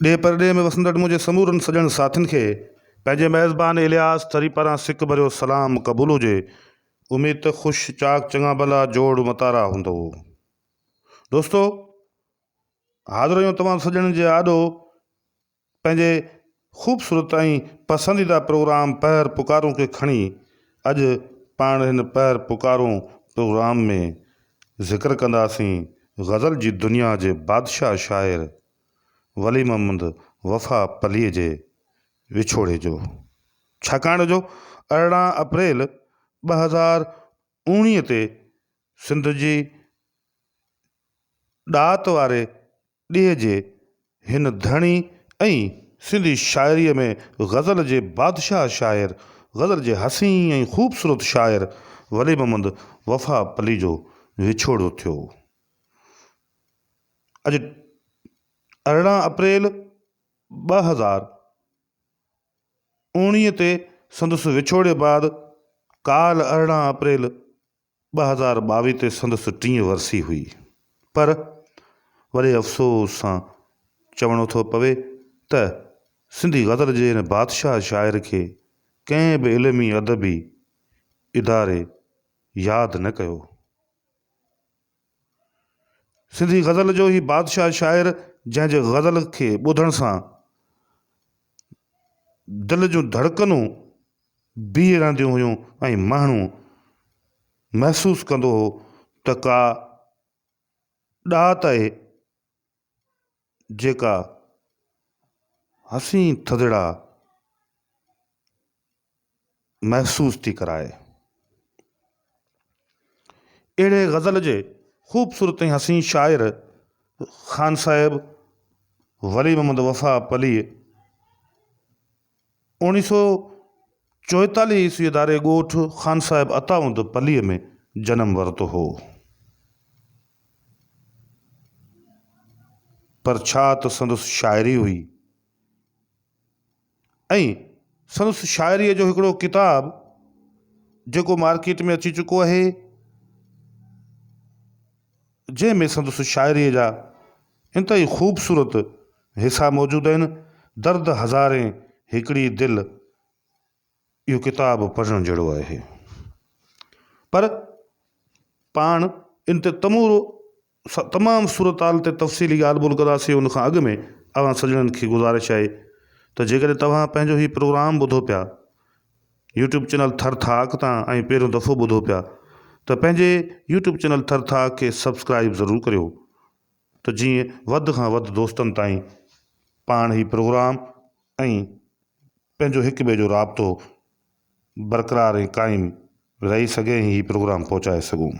ڏيهه پرڏيهه ۾ وسندڙ منهنجي سمورن سڄڻ ساٿين کي پنهنجي ميزبان الياس ٿري پاران سڪ ڀريو سلام قبول هجي. اميد ته خوش چاڪ چڱا ڀلا جوڙ متارا هوندؤ. دوستو! حاضر آهيون توهان سڄڻن جي آڏو پنهنجي خوبصورت ۽ پسنديده پروگرام پهر پڪارون کي کڻي. اڄ پاڻ هن پهر پڪارون پروگرام ۾ ذڪر ڪنداسين غزل جي دنيا جي بادشاهه شاعر ولي محمد وفا پليء جي وڇوڙي جو ڇاڪاڻ جو ارڙهن اپريل ٻه هزار اوڻيهه تي سنڌ جي ڏات واري ڏيهه جي هن ڌڻي ۽ سنڌي شاعريء ۾ غزل جي بادشاهه شاعر غزل جي حسين ۽ خوبصورت شاعر ولي محمد وفا پلي جو وڇوڙو ٿيو. اڄ ارڙهن اپريل ٻه هزار اوڻيهه تي سندس وڇوڙي بعد ڪالهه ارڙهن اپريل ٻه هزار ٻاويهه تي سندس ٽين ورسي هئي پر وڏي افسوس سان چوڻو ٿو پوي ته سنڌي غزل جي هن بادشاهه شاعر کي ڪنهن به علمي ادبي اداري ياد نه ڪيو. سنڌي غزل جو هي بادشاهه شاعر جنهن جي غزل کي ٻڌڻ سان دل جون ڌڙڪنون بيهي رهنديون هيون ۽ ماڻهو محسوس ڪندو هو ته ڪا ڏات آهي جيڪا حسين ٿڌڙا محسوس ٿي ڪرائي. اهڙي غزل جي خوبصورت ۽ حسين شاعر خان صاحب ولي محمد وفا پليء اوڻيھ سئو چوئيتاليھ عيسويء ڌاري ڳوٺ خان صاحب اتائوند پليء ۾ جنم ورتو هو. پر ڇا ته سندس شاعري هئي ۽ سندس شاعريء جو هڪڙو ڪتاب جيڪو مارڪيٽ ۾ اچي چڪو آهي، جنهن ۾ سندس شاعريء جا انتهائي خوبصورت حصا موجود آهن، درد هزارين هڪڙي دل اهو ڪتاب پڙهڻ جهڙو آهي پر پاڻ ان تي تمورو تمام صورتحال تي تفصيلي ڳالهه ٻولهه ڪنداسين ان کان اڳ ۾ اوهان سڄڻن کي گذارش آهي ته جيڪڏهن توهان پنهنجو هي پروگرام ٻڌو پيا يوٽيوب چينل ٿر ٿاڪ تان ۽ پهريون دفعو ٻڌو پيا ته پنهنجي يوٽيوب چينل ٿر ٿاڪ کي سبسڪرائب ضرور ڪريو ته جيئن وڌ کان وڌ دوستن تائين پاڻ هي پروگرام ۽ پنهنجو هڪ ٻئي جو رابطو برقرار ۽ قائم رهي سگهي ۽ هي پروگرام پهچائي سگهون.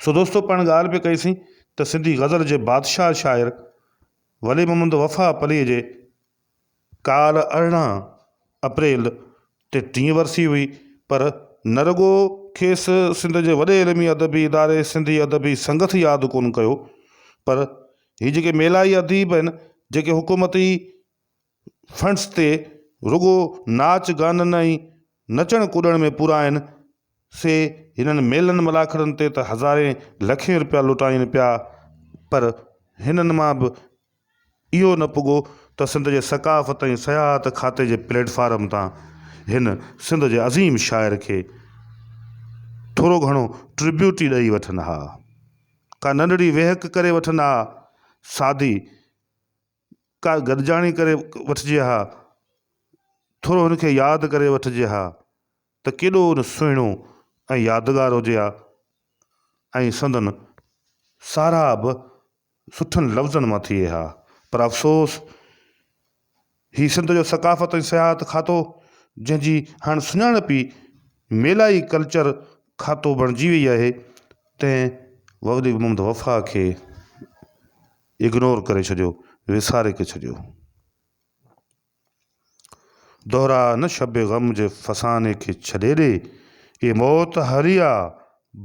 سو دوستو پاڻ ڳالهه پئي ڪئي سين ته سنڌي غزل جي بادشاهه شاعر ولي محمد وفا پليء جي ڪالهه ارڙهن اپريل تي ٽين ورسي هئي پر نه رڳو کيس سنڌ جي وڏي علمي ادبي اداري سنڌي ادبي سنگت ياد ڪونه ڪيو پر هي جيڪي ميلائي اديب آهن جيڪي حڪومتي فنڊس تي رڳو ناچ گانن ۽ نچڻ ڪڏڻ ۾ پورا آهن سي هنن ميلن ملاکڙن تي ته هزارين لکين روپيا لٽائين پيا پر هنن مان به اهو نه پڳو ته سنڌ جي ثقافت ۽ سياحت کاتي جي پليٽ فارم تان هن سنڌ جي عظيم شاعر کي ٿورو گهڻو ٽربيوٽ ئي ڏئي وٺن ها. ڪا ننڍڙي ويهڪ ڪري وٺن ها، سادي ڪا گڏجاڻي ڪري وٺجي ها، ٿورو هن کي ياد ڪري وٺجي ها ته ڪيڏو نه سهڻو ۽ يادگار هجي ها ۽ سندن ساراهه به سٺن لفظن مان ٿئي ها پر افسوس هي سنڌ جو ثقافت ۽ سياحت کاتو جنهن جي هاڻ سڃاڻپ ئي ميلا ئي ڪلچر کاتو بڻجي وئي آهي تنهن وولي محمد وفا کي اگنور ڪري ڇڏيو وساري کي ڇڏيو دهرا نه شب غم جي فساني کي ڇڏي ڏي اي موت هريا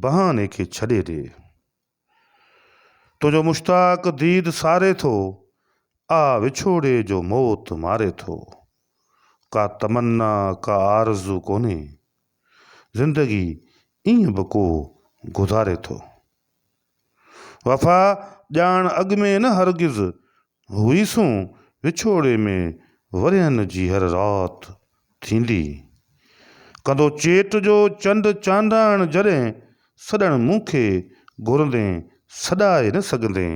بهاني کي ڇڏي ڏي. تنهنجو مشتاق ديد ساري ٿو، آ وڇوڙي جو موت ماري ٿو. ڪا تمنا ڪا آرزو ڪونهي، زندگي ائين به ڪو گذاري ٿو. وفا ڄاڻ اڳ ۾ نه هرگز، هئيسون وڇوڙي ۾ ورهين جي هر رات ٿيندي. ڪندو چيٽ جو چنڊ چانڊاڻ جڏهن سڏڻ مون کي گهرندين سڏائي نه سگهندين.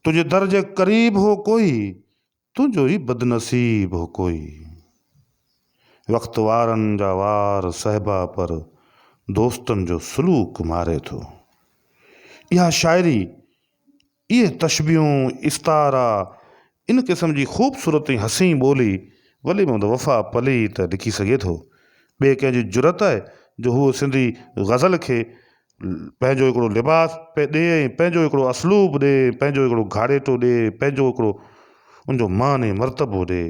تنهنجي در جي قريب هو ڪوئي تنهنجو ئي بدنصيب هو ڪوئي. وقت وارن جا وار صهبا پر دوستن جو سلوڪ ماري ٿو. اها شاعري اهي تشبيهون، استعارا، ان قسم جي خوبصورت ۽ حسين ٻولي ولي محمد وفا پلي ئي ته لکي سگهي ٿو. ٻئي ڪنهن جي جرئت آهي جو هو سنڌي غزل کي پنهنجو هڪڙو لباس پئي ڏئي ۽ پنهنجو هڪڙو اسلوب ڏئي ۽ پنهنجو هڪڙو گهاڙيٽو ڏئي ۽ پنهنجو هڪڙو ان جو مان ۽ مرتبو ڏئي.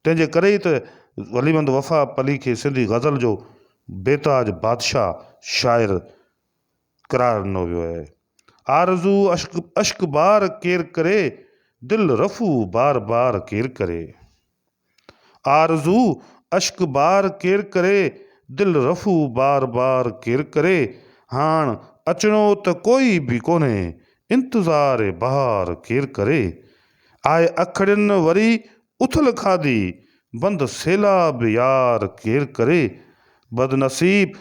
تنهن جي ڪري ئي ته ولي محمد وفا پلي کي سنڌي غزل جو بيتاج بادشاهه شاعر قرار ڏنو ويو آهي. آرزو اشڪ اشڪ بار ڪير ڪري، دل رفو بار بار ڪير ڪري. آرزو اشڪ بار ڪير ڪري، دل رفو بار بار ڪير ڪري. هاڻ اچڻو ته ڪوئي به ڪونهي، انتظار بهار ڪير ڪري. آء اکڙين وري اٿل کاڌي، بند سيلاب يار ڪير ڪري. بدنصيب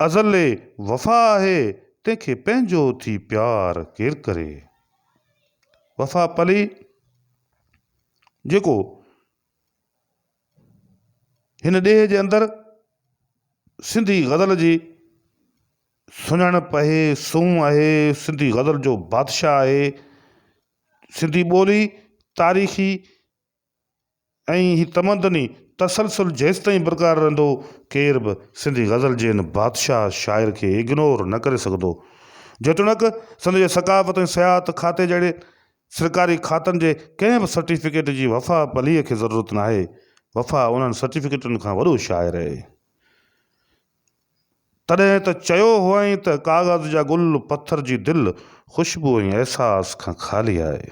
ازل وفا آهي تنهن کي پنهنجو ٿي پيار ڪير ڪري. وفا پلي جيڪو هن ڏيهه جي اندر سنڌي غزل جي سڃاڻپ آهي، سونهن آهي، سنڌي غزل جو بادشاهه آهي، سنڌي ٻولي تاريخي ۽ هي تمدني تسلسل جيستائين برقرار رهندو، ڪير به سنڌي غزل جي هن بادشاهه شاعر کي اگنور نه ڪري سگهندو. جيتوڻيڪ سنڌ جي ثقافت ۽ سياحت کاتي جهڙي سرڪاري کاتن جي ڪنهن به سرٽيفڪيٽ جي وفا پليء کي ضرورت ناهي، وفا انهن سرٽيفڪيٽن کان وڏو شاعر آهي. تڏهن ته چيو هئائين ته ڪاغذ جا گل، پٿر جي دل، خوشبو ۽ احساس کان خالي آهي.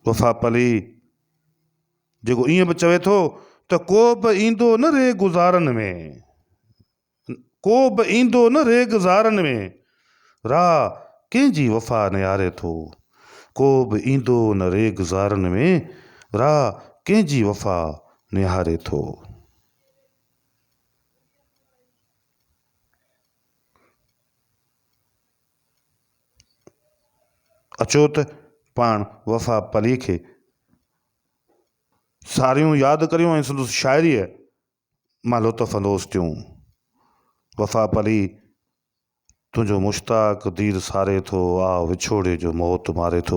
وفا پلي جيڪو ائين به چوي ٿو ته ڪو به ايندو نه ري گذارن ۾، ڪو به ايندو نه ريگ زارن ۾، راهه ڪنهن جي وفا نهاري ٿو. ڪو به ايندو نه ريگ زارن ۾، راهه ڪنهن جي وفا نهاري ٿو. اچو ته پاڻ وفا پلي کي ساريون ياد ڪريون ۽ سندس شاعريء مالهو ته فلوس ٿيون. وفا پلي تنهنجو مشتاق دير ساري ٿو، آه وڇوڙي جو موت ماري ٿو.